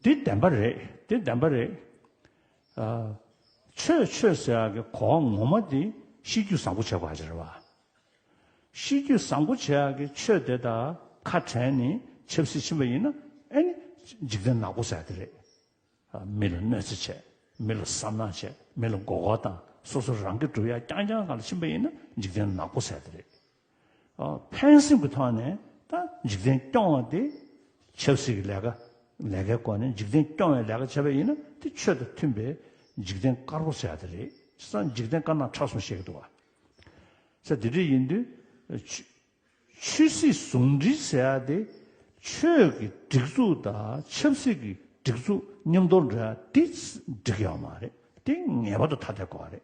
འདི་བདེན་པ་རེད་འདི་བདེན་པ་རེད། ཆོས་ཆོས་ཟེར་བ་གི་གོ་བ་ངོ་མ་དེ་གཤིས་རྒྱུད་བཟང་པོ་བྱེད་དགོས་ཀྱི་རེད་བ། གཤིས་རྒྱུད་བཟང་པོ་བྱེད་ཡག་གི་ཆོས་དེ་དག་ཁ་བྲལ་ནས་ཆབ་སྲིད་ཕྱིན་པ་ཡིན་ན་ཨེ་ནི་འཇིག་རྟེན་ནག་པོ་ཟེར་དེ་རེད། མི་ལ་གནོད་འཚེ་བྱས་མི་ལ་བསམ་ནག་བྱས་མི་ལ་མགོ་སྐོར་དང་སོ་སོ་རང་གི་གྲུབ་ཡ་རྐྱང་རྐྱང་གང་ལ་ཕྱིན་པ་ཡིན་ན་འཇིག་རྟེན་ནག་པོ་ཟེར་དེ་རེད། ཕན་སེམས་ཀྱི་ཐོག་ནས་ད་འཇིག་རྟེན་སྐྱོང་བ་དེ་ཆབ་སྲིད་ཀྱི་ལས་ཀ་ལས་ཀའི་སྐོར་ནས་འཇིག་རྟེན་སྐྱོང་བའི་ལས་ཀ་བྱས་པ་ཡིན་ན་དེ་ཆོས་དང་མཐུན་པའི་འཇིག་རྟེན་དཀར་པོ་བྱས་ཏེ་རེད་ས་འཇིག་རྟེན་དཀར་ནག་ཁྲ་གསུམ་བཤད་ཀྱི་འདུག་བ། ས་དེ་འདྲ་ཡིན་དུས་ཆོས་སྲིད་ཟུང་འབྲེལ་བྱས་ཏེ་ཆོས་ཀྱི་སྒྲིག་འཛུགས་དང་ཆབ་སྲིད་ཀྱི་སྒྲིག་འཛུགས་མཉམ་དུ་འདྲ་འདི་འགྲིག་ཡོད་མ་རེད་དེ་ངེས་པར་དུ་ཐ་དད་དགོས་བ་རེད།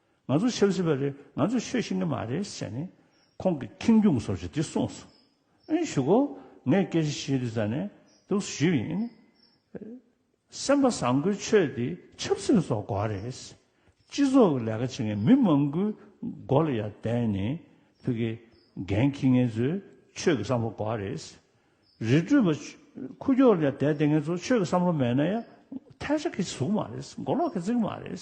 ང་ཚོ་ཤོད་སྲིད་པ་རེད་ང་ཚོས་ཤོད་ཤེས་ཀྱི་མ་རེད་བྱས་ནས་ཁོང་གི་ཁེངས་སྐྱུང་སོར་བཞི་དེ་གསུངས་སོང། ཨེ་ཞུ་གོ་ངས་སྐད་ཆ་ཞུས་དུས་ས་ནས་འདུག་ཟེར་ཞུས་ཡིན། སེམས་པ་བཟང་པོའི་ཆོས་འདི་ཆབ་སྲིད་སོགས་འགོ་བ་རེད། སྤྱི་ཚོགས་ཀྱི་ལས་ཀ་བྱེད་མཁན་མི་མང་པོའི་མགོ་ལ་ཡར་བསྡད་ནས་ཐུགས་ཀྱི་འགན་འཁྱེར་མཁན་ཚོས་ཆོས་ཀྱི་བསམ་བློ་འགོ་བ་རེད། རི་ཁྲོད་པ་ཁུ་ཁྱོག་ལ་ཡར་བསྡད་བསྡད་མཁན་ཚོ་ཆོས་ཀྱི་བསམ་བློ་མེད་ན་ཡང་ཐལ་ཆ་གི་གཟུགས་མ་རེད་མགོ་ལོག་གི་རྩིག་མ་རེད།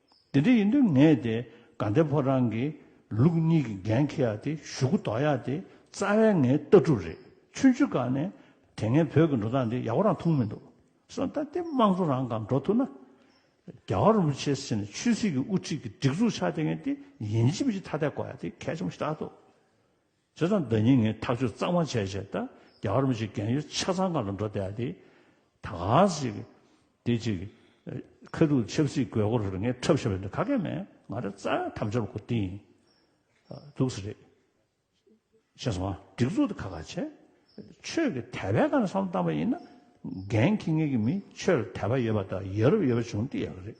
དེ་འདྲ་ཡིན་དུས་ངས་དེ་དགའ་འདེབས་ཕོ་བྲང་གི་ལུགས་གཉིས་ཀྱི་འགན་འཁྱེར་ཡག་དེ་ཞུ་གུ་འདོགས་ཡག་དེ་རྩ་བའི་ངའི་ལྟ་གྲུབ་རེད་ཆུང་ཆུང་སྐབས་ནས་དེ་ངས་བོད་ཀྱི་འགྲོ་སྟངས་འདི་ཡག་པོ་རང་མཐོང་མི་འདུག་གསུངས་ད་ལྟའི་དམངས་གཙོ་རང་གང་འགྲོ་ཐུབ་ན་རྒྱ་གར་རིན་པོ་ཆེ་ཟེར་ནས་ཆོས་སྲིད་ཀྱི་དབུ་ཁྲིད་ཀྱི་སྒྲིག་འཛུགས་ཆགས་དེ་ངས་དེ་ཡིན་གཅིག་མིན་གཅིག་ཐ་དད་གོ་ཡག་དེ་གལ་ཆེན་པོ་ཞིག་རྟག་ཏུ། བྱས་ཙང་བདག་ཉིད་ངས་ཐག་གཅོད་གཙང་མ་བྱས་བྱས་ད་རྒྱ་གར་མི་ཞིག་རྒན་ཡོལ་ཆ་ཚང་ག་ལ་འགྲོ་བསྡད་དེ། ད་ག་ཞིག་དེ་ཅིག། ཁ་ཐུག་ཆབ་སྲིད་དགོས་མཁོ་རེར་ངས་འཁྲབ་ཤོར་བས་འདི་ཁ་སྐད་མེད་ང་རེ་རྩ་བའི་དམ་འབྱོར་གོ་དེ་ཡིན། སྡུག་ས་རེད། ཤེས་སོང་ཨ་སྒྲིག་འཛུགས་དེ་ཁ་ཁ་བྱས། ཆོས་ཀྱི་དད་པའི་ཁ་ནས་བསམ་བློ་བཏང་བ་ཡིན་ན། རྒན་ཁྱི་ངེད་ཀྱི་མིས་ཆོས་ལ་དད་པ་ཡོད་པ་དང་ཡ་རབས་ཡོད་པ་བྱུང་དེ་ཡག་རེད།